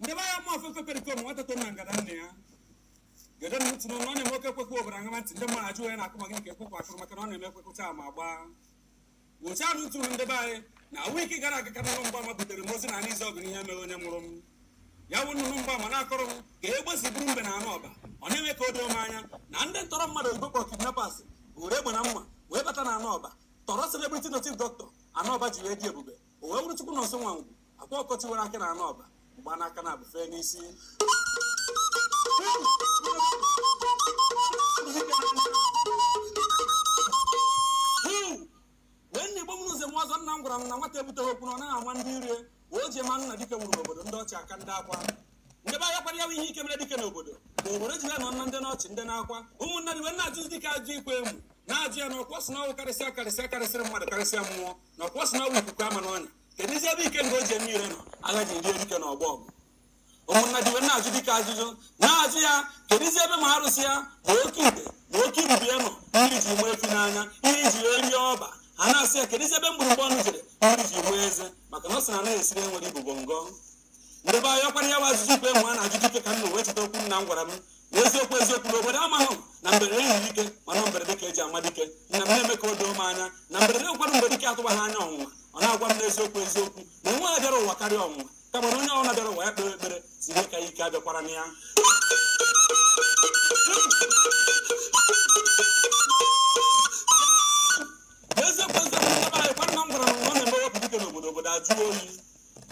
Ndị be anyị mụ ofefe perikom nwata to na ngada nne ya. Gede na ntị n'ọnụ ọ na-eme oke ekwe kwuo obodo aṅama ntị ndị mmadụ ajụ onye na-akụ maka nke ekwekwe akụrụ maka na ọ na-eme ekwe kụcha ma gbaa. Wụchaa na utu ndị be anyị na wiki gara aga ka nnụnụ mgbama butere m ozi na anị ọgụ n'ihe mere onye mụrụ m. Ya wụ nnụnụ mgbama na-akọrọ m ka egbe si buru mbe na anị Ọba. Ọ na-eme ka o doo m anya na ndị ntọrị mmadụ oyibo kpọrọ kidnappers were egbe na mma wee bata na anị Ọba tọrọ celebrity native doctor anị Ọba ji wee dị ebube o wee bụrụ Chukwunọnso Nwangwu Akwa Ọkụkọ Tiwara Akị na anị Ọba mgba n'aka na abụfe n'isi Hmm. ụmụnna Igbo mụrụ nze mụọ ọzọ nna m gwara m na nwata ebuteghị okwu na ọ naghị ama ndị irie wee o ji mee na dike nwụrụ n'obodo ndị ọchị aka ndị akwa ndị be anyị ọkwara ya bụ ihe ike mere dike n'obodo na obodo ji wee nọ na ndị n'ọchị ndị n'akwa ụmụnna ji wee na-ajụzi dike ajụjụ ikwe emu na-ajụ ya na ọkwa ọ sị na ọ wụ karịsịa karịsịa karịsịrị mmadụ karịsịa mmụọ na ọkwa sị na ọ bụ ikuku ama n'ọnya keduzi ebe ike nke o ji eme ire nọ agha ji rie dike na ọgbọ ọgụ ụmụnna ji wee na-ajụ dike ajụjụ na-ajụ ya keduzi ebe ma arụsị ya ma oke ite ma oke ibobo ya nọ mmiri ji maa efi n'anya ihe ji wee rie ọba a na-asị ya keduzi ebe mgbụrụgba ọnụ jere mmiri ji maa eze maka na ọ sị na anaghị esiri onye nwere ibobo ngọ ndị be anyị ọkwara ya bụ ajụjụ ikwe emu a na-ajụ dike ka m ji wee cheta okwu nna m gwara m n'eziokwu eziokwu na obodo amaghị na mberede nyiri dike mana mberede ka eji ama dike nna m na-eme ka o doo m anya na mberede ụfọdụ mgbe dike atụbaghị anya ọnwụnwa ọ na-agwa m n'eziokwu eziokwu na o nweghị onye bịara ụwa karịa ọnwụnwa kama na onye ọbụla bịara ụwa ya kpee ekpere sị ihe ka ya ike abịakwarana ya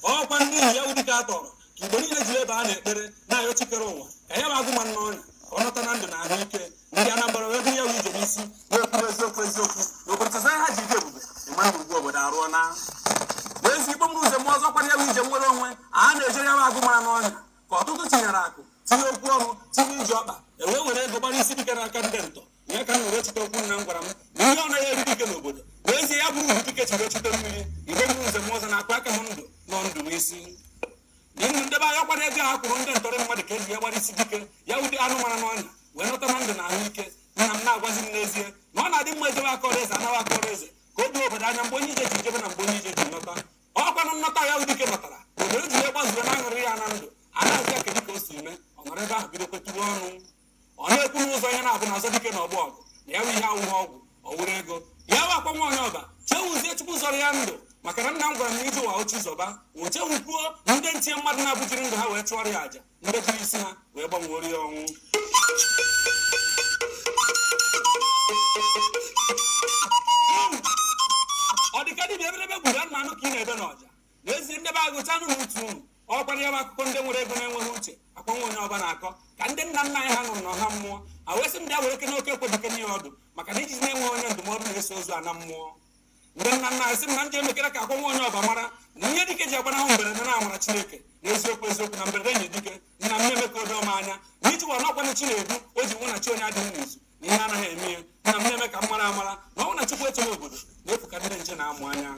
ọkwa n'ihi ya wụ dike a tọrọ ka Igbo niile ji wee baa n'ekpere na-ayọ chi kere ụwa ka ya agụ mara n'ọnya ka ọ nọta na ndụ na ahụ ike ndị Anambra wee buru ya wụ ije n'isi wee kwuru eziokwu eziokwu na obodo ha ji ike ebube ịma na ugwu obodo arụọna n'ezie Igbo mụrụ nze mụọ ọzọ ọkwara ya bụ ije nnwere onwe a na-ejere ya agụ mara n'ọnya ka ọtụtụ tinyere aka tinye okwu ọnụ tinye ije ọkpa wee were ego gbara isi dike n'aka ndị ntọ ihe ka m were cheta okwu nna m gwara m na ihe ọ naghị eri dike n'obodo n'ezie ya bụrụ dike churu o chute mmiri Igbo mụrụ nze mụọ ọzọ na-akpa aka m ndụ nọ ndụ n'isi n'ihu ndị be anyị ọkwara ego ha kwụrụ ndị ntọrị mmadụ ka eji wee gbara isi dike ya wụ agụ mara n'ọnya wee nọta na ndụ na ahụ ike nna m na-agwazi m n'ezie na ọ na-adị mma ejebe akọrọ eze anaba akọrọ eze ka o doo obodo anya mgbe onye ije ji jebe na mgbe onye ije ji nọta ọkwanụ nnọta ya wụ dike nọtara obodo ji wee gbazuo na aṅụrị ya na ndụ a na-ajụ ya kedu ka o si mee ọ nọrọ ebe ahụ bido kwetuwe ọnụ ọ na-ekwu n'ụzọ ihe na-abụ na-azọ dike na ọgbọ ọgụ na ya bụ ihe awụghị ọgwụ ọ wụrụ ego ya bụ Akwa nwa onye Ọba chefuzie Chukwu zọrọ ya ndụ maka na nna m gwara m na ije ụwa ọ chi zọba o chefukwuo na ndị nche mmadụ naabọ jiri ndụ ha wee chụọrọ ya aja ndị jiri isi ha wee gbanwere ya ọnwụ ọ dịka dibịa eberebe gburu anụ anụ ka ị na-ebe n'ọja n'ezie ndị be agụcha nụ ntị unu nụkwara ya bụ akụkọ ndị nwere ego na-enweghị uche akwa nwa onye ọba na-akọ ka ndị nna nna anyị ha nọrọ n'ọha mmụọ ha wee sị m jee werekene okwu dike nye ya ọdụ maka na ijiji na-enwe onye ndụmọdụ na-eso ozu ana mmụọ ndị nna nna anyị sị m na m jee mekere ka akwa nwa onye ọba mara na ihe dike ji agbanahụ mberede na amara chineke na eziokwu eziokwu na mberede nyiri dike nna m na-eme ka o doo m anya na ije ụwa n'ọkwa na chi na-edu o ji wụ na chi onye adịghị n'izu na ihe anaghị eme ya nna m na-eme ka m mara amara na ọ bụrụ na chukwu echebe obodo n'efu ka ndị nche na-amụ anya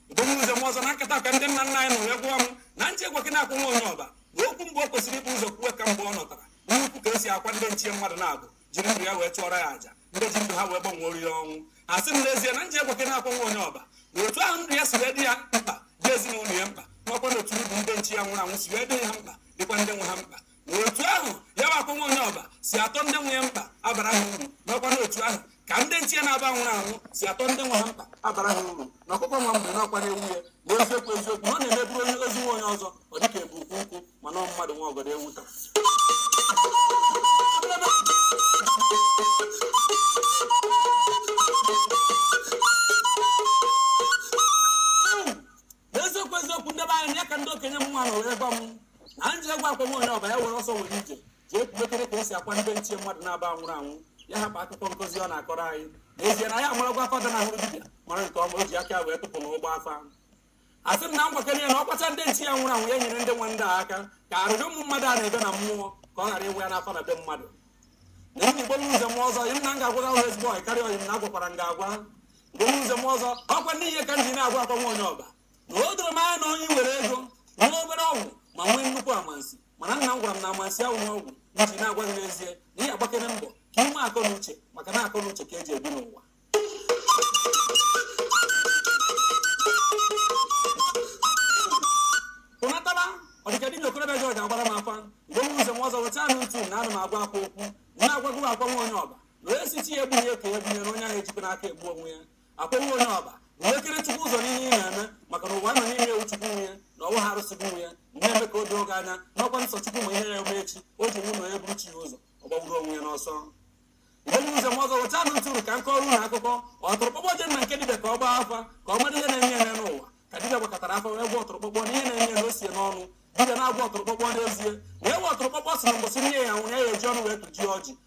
Ugomuze m ọzọ na nkata ka ndị nna nna anyị nọ wee gwa m na m jee gwakene akwa nwa onye ọba na okwu mbụ o kwesịrị ibu ụzọ kwuwe ka mgbe ọ nọtara n'ukwu ka esi akwa ndị nche ya mmadụ naabọ jiri ndụ ya wee chụọrọ ya àjà ndị ji ndụ ha wee gbanwere ya ọnwụ ha sị m n'ezie na m jee gwakene akwa nwa onye ọba na otu ahụ ndụ ya si wee dị ya mkpa dị ezinụlọ ya mkpa nakwa na otu ndụ ndị nche ya nwụrụ anwụ si wee dị ha mkpa dịkwa ndị nwe ha mkpa otu ahụ ya bụ akwa nwa onye ọba si atọ ndị nwe ya mkpa abara ha uru n'ọkwa n'otu ahụ ka ndị nche ya naabọ nwụrụ anwụ si atọ ndị nwe ha mkpa abara ha uru na ọkụkọ nwa mgbei n'ọkwa na ewu ya na eziokwu eziokwu na ọ na-eme e buru ozu nwa onye ọzọ ọ dịka e bu ukwu nkụ mana ọ mmadụ nwe ọgọdọ ewu na-ata eziokwu eziokwu ndị be anyị ya ka ndị okenye m nwa na were gwa m na anyị jee gwa akwa nwa onye ọba ya were ọsọ were ije jee kwubetere ka esi akwa ndị nche ya mmadụ naabọ nwụrụ anwụ ya hapụ akụkọ nkụzi ọ na-akọrọ anyị n'ezie na ya amarakwa afa dị na ahụrụ dibịa mara nke ọma o ji aka wee tụpụ na ụgbọ afa ha sị m na m gwakere ya na ọ kwachaa ndị nche ya nwụrụ anwụ ya nyere ndị nwe ndị a aka ka arịrị ụmụ mmadụ a na-ebe na mmụọ ka ọ ghara ịwụ ya n'afa na be mmadụ na enyi gbolu nze m ọzọ yim na m ga-agwara ụlọ ezigbo ọyị karịa ọyị m na agwakwara m ga-agwa bụrụ ụzọ m ọzọ ọkwa n'ihe ka m ji na-agwa akwa nwa onye ọba na o doro m anya na onye nwere ego nwee obere ọgwụ ma nwee nnukwu amansi mana nna m gwara m na amansi ahụ na ọgwụ m ji na-agwa gị n'ezie na ị agbakere mbọ ka i nwee akọ na uche maka na akọ na uche ka eji ebi n'ụwa pụnataba ọdịka dibịa okorobịa jọji agbara m akwa mgbe m ụzọ m ọzọ wụchaanụ ntị na ana m agwa akwa okwu na-agwago akwa nwa onye ọba wee sisi ya egbu ihe ka ya gbunyere onye ahụ ejikwa n'aka egbu onwe ya akwa nwa onye ọba nwekere chukwu ụzọ n'ihe ị na-eme maka na ụwa ị nọ n'ime ya wụ chukwu nwe ya na ọ wụghị arụsị gị nwe ya na-eme ka o doo gị anya n'ọkwa nsọ chukwu ma ihe ya-eme echi o ji wụ n'onye buru chi ya ụzọ ọ gbagburu onwe ya n'ọsọ mgbe nze m ọzọ wụchaanụ ntị ka m kọrọ unu akụkọ ọtụrụkpọkpọ jee na nke dibịa ka ọ gbaa afa ka ọ mara ihe na-eme ya n'ụwa ka dibịa gbakọtara afa wee gwa ọtụrụkpọkpọ na ihe na-eme ya na o si ya n'ọnụ dibịa na-agwa ọtụrụkpọkpọ n'ezie wee gwa ọtụrụkpọkpọ sị na mbọsị nne ya nwụrụ ya ya-eji ọnụ wee tụjie ọjị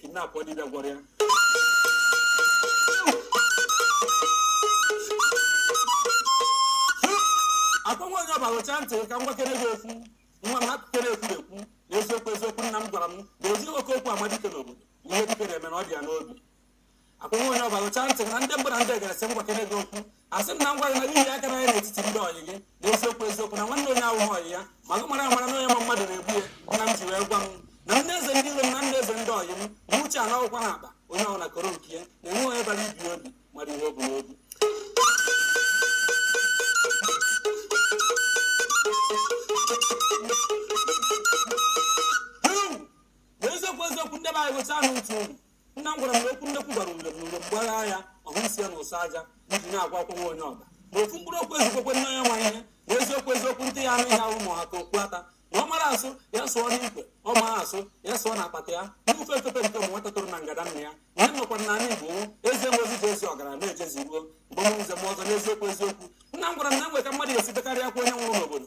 kidnap ọ dibịa gwọrọ ya akwa nwa onye ọba rụchaa ntị ka m gwakere gị okwu nwa m akụkere ekwu ekwu na eziokwu eziokwu nna m gwara m na esi n'oke okwu ama dike n'obodo na ihe dike na-eme na ọ dị ya n'obi akpọghị onye ọbara ụcha ntị na ndị mbụ na ndị egeresi ngwa kene gị okwu asị m na ngwa gị na n'ihi aka n'anya n'etiti ndị ọyị gị na eziokwu eziokwu na nwanne onye ahụhụ ọyị ya ma gị mara amara na onye ma mmadụ na-egbu ya nna m ji wee gwa m na ndị eze ndị iro m na ndị eze ndị ọyị m ma uche a n'akwụkwọ ha akpa onye ọbụla koro nke ya na-enwe onye bara ibi obi mara ihe obi n'obi n'eziokwu eziokwu ndị be anyị gụcha ahụ ntụ unu nna m gwara m na okwu nnekwu gwara mgbe m mgbe mgbagha ya ọhụ nsị ya na ụsọ aja iji na-agwa akwa nwa onye ọba ma ofu mkpụrụ okwu ezikwekwe nne onye ma ihe na eziokwu eziokwu ntị ga-anụ ihe ama ha ka okpu ata ma ọ mara asụ ya sụọ n'ikwe ọ ma asụ ya sụọ n'apata ya n'ufe efefe nke ụmụ nwata tụrụ na ngada nna ya na ya nọkwa n'ala igbo nwụ eze nwezi ji ezi ọgara na-ejezi ruo mgbe m nze na ọzọ n'eziokwu eziokwu nna m gwara m na enwe ka mmadụ ga-esi bekarịa akwa onye nwụrụ n'obodo